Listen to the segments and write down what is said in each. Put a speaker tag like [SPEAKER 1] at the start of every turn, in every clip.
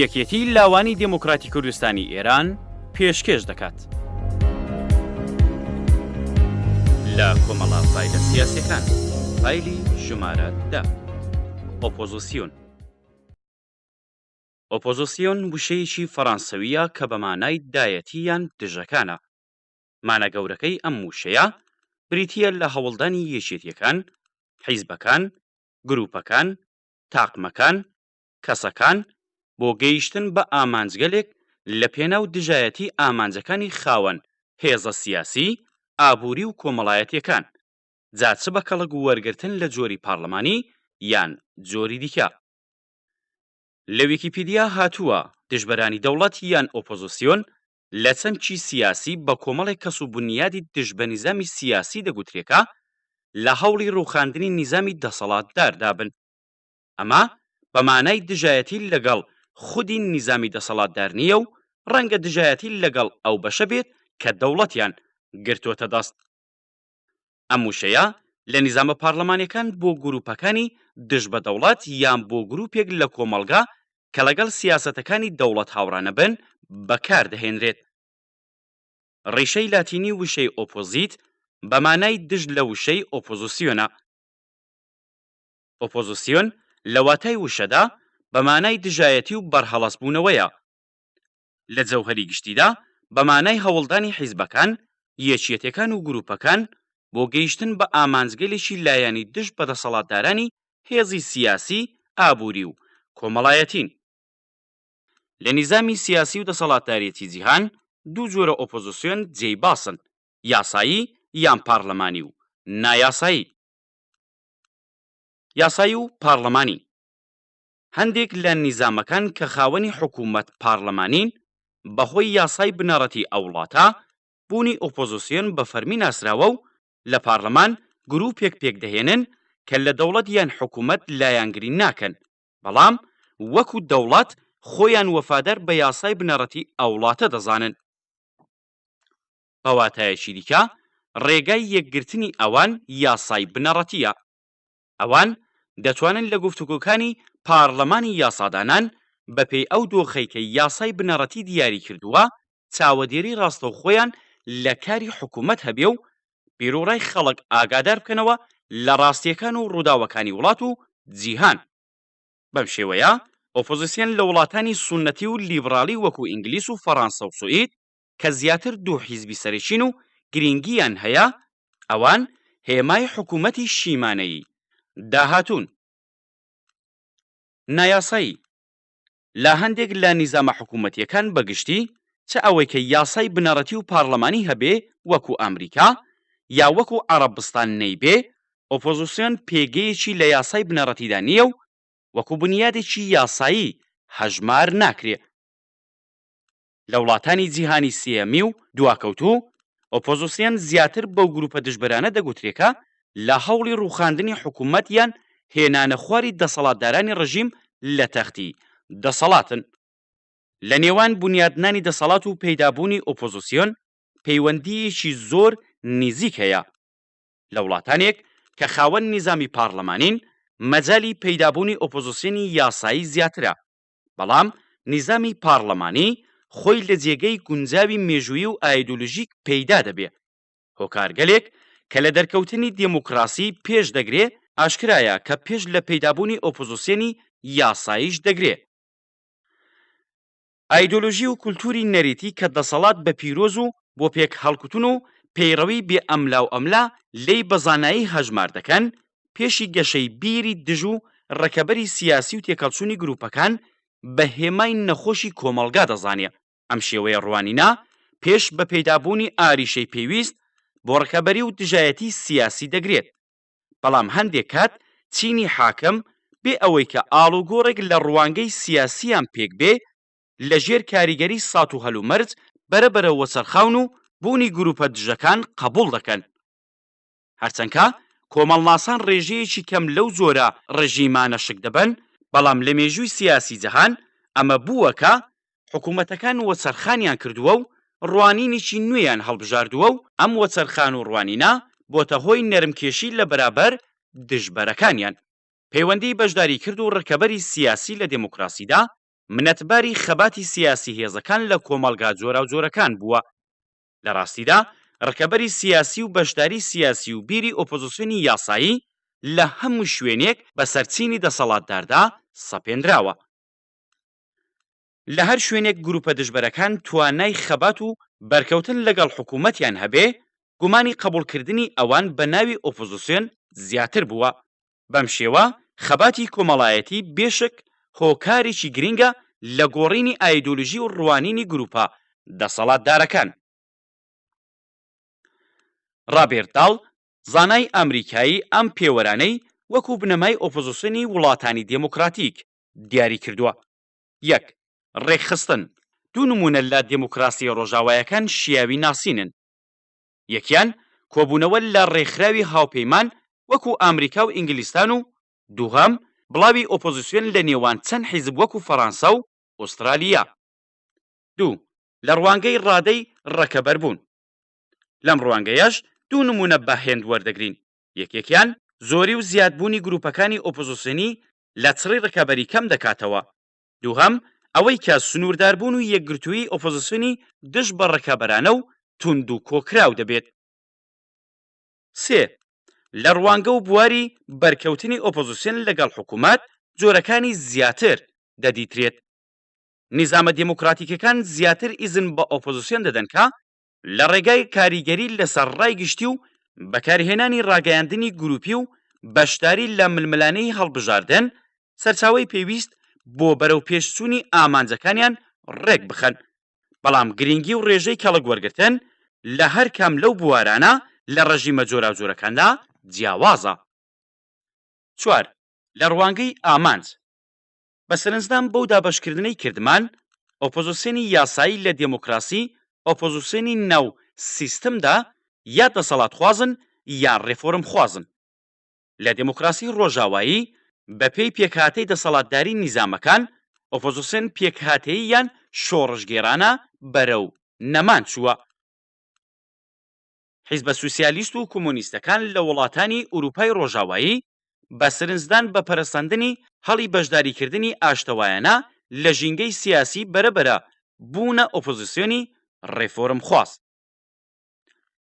[SPEAKER 1] یەکێتی لاوانی دموکراتی کوردستانی ئێران پێشکێش دەکات لە کۆمەڵا فیلە سیاسەکان فیلی ژمارە دە ئۆپۆزیسیون ئۆپۆزسیۆن وشەیەکی فەڕانسەوییە کە بە مانای دایەتی یان دژەکانە. مانا گەورەکەی ئەم وشەیە بریتییە لە هەوڵدانی یەکێتییەکان، حیزبەکان، گرووپەکان، تاقمەکان، کەسەکان بۆ گەیشتن بە ئامانجگەلێک لە پێناو دژایەتی ئامانجەکانی خاوەن هێزە سیاسی، ئابووری و کۆمەڵایەتییەکان، جا چ بە کەڵک وەرگرتن لە جۆری پارلمانی یان جۆری دیکە. لە ویکیپیدیا هاتووە، دژبەرانی دەوڵەت یان ئۆپۆزسیۆن لە چەمکی سیاسی بە کۆمەڵێک کەس و بونیادی دژ بە نیزامی سیاسی دەگوترێ کە لە هەوڵی ڕووخاندنی نیزامی دەسەڵاتداردا بن. ئەمە بە مانای دژایەتی لەگەڵ خودی نیزامی دەسەڵاتدار نییە و ڕەنگە دژایەتی لەگەڵ ئەو بەشە بێت کە دەوڵەتیان گرتۆتە دەست. ئەم وشەیە لە نیزامە پارلەمانیەکان بۆ گروپەکانی دژ بە دەوڵەت یان بۆ گروپێک لە کۆمەڵگا کە لەگەڵ سیاسەتەکانی دەوڵەت هاوڕانەبن بەکاردەهێنرێت. ڕیشەی لاتینی وشەی ئۆپۆزیت بە مانای دژ لە وشەی ئۆپۆزسیۆنە. ئۆپۆزسیۆن لە واتای وشەدا بە مانای دژایەتی و بەرهەڵەسبوونەوەیە. لە جەوهەری گشتیدا بە مانای هەوڵدانی حیزبەکان، یەکیەتێکان و گروپەکان بۆ گەیشتن بە ئامانجگەلێکی لایەنی دژ بە دەسەڵاتدارانی هێزی سیاسی، ئابوری و کۆمەڵایەتین. لە نیزامی سیاسی و دەسەڵاتدارێتی جیهان دوو جۆرە ئۆپۆزسیۆن جێی باسن، یاسایی یان پارلمانی و نایاسایی. یاسایی و پارلمانی. هەندێک لە نیزامەکان کە خاوەنی حکوومەت پارلەمانین، بە هۆی یاسای بنەڕەتی ئەو وڵاتە، بوونی ئۆپۆزسیۆن بە فەرمی ناسراوە و لە پارلەمان گرووپێک پێک دەهێنن کە لە دەوڵەت یان حکوومەت لایەنگری ناکەن، بەڵام وەکوو دەوڵەت خۆیان وەفادار بە یاسای بنەڕەتی ئەو وڵاتە دەزانن. بە واتایەکی دیکە، ڕێگای یەکگرتنی ئەوان یاسای بنەڕەتییە. ئەوان دەتوانن لە گفتوگۆکانی پاڕلمانی یاسادانان بەپێی ئەو دۆخەی کە یاسای بنەڕەتی دیاری کردووە چاوەدێری ڕاستەوخۆیان لە کاری حکوومەت هەبێ و بیروڕای خەڵک ئاگادار بکەنەوە لە ڕاستییەکان و ڕووداوەکانی وڵات و جیهان. بەم شێوەیە ئۆپۆزیسیۆن لە وڵاتانی سوننەتی و لیبڕاڵی وەکوو ئینگلیس و فەڕانسە و سوئید کە زیاتر دوو حیزبی سەرەکین و گرینگییان هەیە، ئەوان هێمای حکوومەتی شیمانەیی داهاتوون. نایاسایی، لە هەندێک لە نیزامە حکوومەتییەکان بە گشتی، چ ئەوەی کە یاسای بنەڕەتی و پارلەمانی هەبێ وەکوو ئامریکا، یا وەکوو عەڕەبستان نەیبێ، ئۆپۆزیسیۆن پێگەیەکی لە یاسای بنەڕەتیدا نییە و وەکوو بونیادێکی یاسایی هەژمار ناکرێ. لە وڵاتانی جیهانی سێیەمی و دواکەوتوو، ئۆپۆزسیۆن زیاتر بەو گرووپە دژبەرانە دەگوترێ کە لە هەوڵی ڕووخاندنی حکوومەت یان هێنانە خواری دەسەڵاتدارانی ڕژیم لە تەختی دەسەڵاتن. لە نێوان بونیادنانی دەسەڵات و پەیدابوونی ئۆپۆزسیۆن پەیوەندییەکی زۆر نیزیک هەیە. لە وڵاتانێک کە خاوەن نیزامی پارڵمانین، مەجالی پەیدابوونی ئۆپۆزسیۆنی یاسایی زیاترە. بەڵام نیزامی پاڕلمانی خۆی لە جێگەی گونجاوی مێژوویی و ئایدولوژیک پەیدا دەبێ. هۆکارگەلێک کە لە دەرکەوتنی دێموکڕاسی پێش دەگرێ، ئاشکرایە کە پێش لە پەیدابوونی ئۆپۆزسیۆنی یاساییش دەگرێ. ئایدولوژی و کولتووری نەریتی کە دەسەڵات بە پیرۆز و بۆ پێکهەڵکوتن و پەیڕەوی بێ ئەملاوئەملا لێی بە زانایی هەژمار دەکەن، پێشی گەشەی بیری دژ و ڕکەبەری سیاسی و تێکەڵچوونی گرووپەکان بە هێمای نەخۆشی کۆمەڵگا دەزانێ، ئەم شێوەیە ڕوانینە پێش بە پەیدابوونی ئاریشەی پێویست بۆ ڕکەبەری و دژایەتی سیاسی دەگرێت. بەڵام هەندێک کات چینی حاکم بێ ئەوەی کە ئاڵوگۆڕێک لە ڕوانگەی سیاسییان پێک بێ لە ژێر کاریگەری سات و هەلومەرج بەرە بەرە وەچەرخاون و بوونی گرووپە دژەکان قەبووڵ دەکەن. هەرچەنکە کۆمەڵناسان ڕێژەیەکی کەم لەو جۆرە ڕژیمانە شک دەبەن، بەڵام لە مێژووی سیاسی جەهان ئەمە بووە کە حکوومەتەکان وەچەرخانیان کردووە و ڕوانینێکی نوێیان هەڵبژاردووە و ئەم وەچەرخان و ڕوانینە بۆتە هۆی نەرمکێشی لە بەرابەر دژبەرەکانیان. پەیوەندیی بەشداریکرد و ڕکەبەری سیاسی لە دێموکراسیدا منەتباری خەباتی سیاسی هێزەکان لە کۆمەڵگا جۆراوجۆرەکان بووە. لە ڕاستیدا ڕکەبەری سیاسی و بەشداری سیاسی و بیری ئۆپۆزسیۆنی یاسایی لە هەموو شوێنێک بەسەر چینی دەسەڵاتداردا سەپێنراوە. لە هەر شوێنێک گروپە دژبەرەکان توانای خەبات و بەرکەوتن لەگەڵ حکوومەتیان هەبێ، گومانی قەبووڵکردنی ئەوان بە ناوی ئۆپۆزسیۆن زیاتر بووە. بەم شێوە خەباتی کۆمەڵایەتی بێ شک هۆکارێکی گرینگە لە گۆڕینی ئایدۆلۆژی و ڕوانینی گرووپە دەسەڵاتدارەکان. ڕابێرت داڵ، زانای ئامریکایی ئەم پێوەرانەی وەکوو بنەمای ئۆپۆزسیۆنی وڵاتانی دێمۆکڕاتیک دیاری کردووە، یەک. ڕێکخستن، دوو نموونە لە دێمۆکڕاسییە ڕۆژاوایەکان شیاوی ناسینن. یەکیان کۆبوونەوە لە ڕێکخراوی هاوپەیمان وەکو ئامریکا و ئینگلیستان و دووهەم بڵاوی ئۆپۆزیسیۆن لە نێوان چەند حیزب وەکو فەڕانسە و ئوستڕالیا. دوو، لە ڕوانگەی ڕادەی ڕەکەبەر بوون. لەم ڕوانگەیەش دوو نموونە بە هێند وەردەگرین، یەکێکیان زۆری و زیاد بوونی گرووپەکانی ئۆپۆزیسیۆنی لە چڕی ڕکابەری کەم دەکاتەوە، دووهەم، ئەوەی کە سنوورداربوون و یەکگرتوویی ئۆپۆزسیۆنی دژ بە ڕکابەرانە و توند و کۆکراو دەبێت. سێ، لە ڕوانگە و بواری بەرکەوتنی ئۆپۆزسیۆن لەگەڵ حکوومەت جۆرەکانی زیاتر دەدیترێت. نیزامە دێمۆکڕاتیکەکان زیاتر ئیزن بە ئۆپۆزسیۆن دەدەن کە لە ڕێگای کاریگەری لەسەر ڕای گشتی و بەکارهێنانی ڕاگەیاندنی گروپی و بەشداری لە ململانێی هەڵبژاردن، سەرچاوەی پێویست بۆ بەرەوپێشچوونی ئامانجەکانیان ڕێکبخەن، بەڵام گرنگی و ڕێژەی کەڵک وەرگرتن لە هەر کام لەو بوارانە لە ڕژیمە جۆراوجۆرەکاندا جیاوازە. چوار، لە ڕوانگەی ئامانج، بە سەرنجدان بەو دابەشکردنەی کردمان، ئۆپۆزسیۆنی یاسایی لە دێمۆکراسی، ئۆپۆزسیۆنی ناو سیستمدا یا دەسەڵاتخوازن یان ڕێفۆرمخوازن. لە دێمۆکراسی ڕۆژاوایی، بەپێی پێکهاتەی دەسەڵاتداری نیزامەکان، ئۆپۆزسیۆن پێکهاتەییان شۆڕشگێڕانە بەرەو نەمان چووە. حیزبە سوسیالیست و کۆمۆنیستەکان لە وڵاتانی ئورووپای ڕۆژاوایی بە سرنجدان بە پەرەسەندنی هەڵی بەشداریکردنی ئاشتەوایانە لە ژینگەی سیاسی بەرەبەرە بوونە ئۆپۆزیسیۆنی ڕێفۆرمخواز.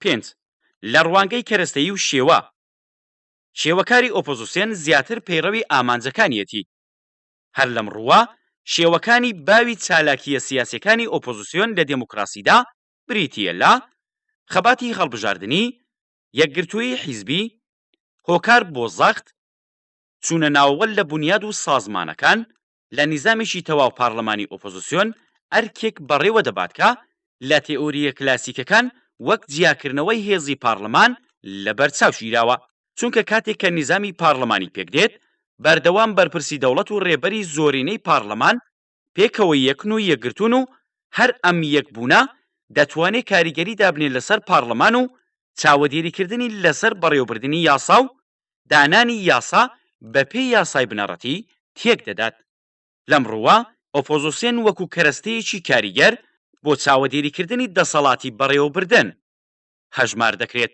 [SPEAKER 1] پێنج. لە ڕوانگەی کەرەستەیی و شێوە، شێوەکاری ئۆپۆزیسیۆن زیاتر پەیڕەوی ئامانجەکانیەتی. هەر لەم ڕووە شێوەکانی باوی چالاکییە سیاسیەکانی ئۆپۆزیسیۆن لە دێموکراسیدا بریتییە لە، خەباتی هەڵبژاردنی، یەکگرتوویی حیزبی، هۆکار بۆ زەخت چوونە ناوەوە لە بونیاد و سازمانەکان، لە نیزامێکی تەواو پارلەمانی ئۆپۆزسیۆن ئەرکێک بەڕێوە دەبات کە لە تێئۆرییە کلاسیکەکان وەک جیاکردنەوەی هێزی پارلەمان لە بەرچاو گیراوە، چونکە کاتێک کە نیزامی پارلەمانی پێکدێت، بەردەوام بەرپرسی دەوڵەت و رێبەری زۆرینەی پارلەمان پێکەوە یەکن و یەکگرتوون و هەر ئەم یەکبوونە دەتوانێ کاریگەری دابنێ لەسەر پارڵمان و چاوەدێریکردنی لەسەر بەڕێوەبردنی یاسا و دانانی یاسا بەپێی یاسای بنەڕەتی تێکدەدات. لەم ڕووە ئۆپۆزسێن وەکوو کەرەستەیەکی کاریگەر بۆ چاوەدێریکردنی دەسەڵاتی بەڕێوەبردن هەژمار دەکرێت.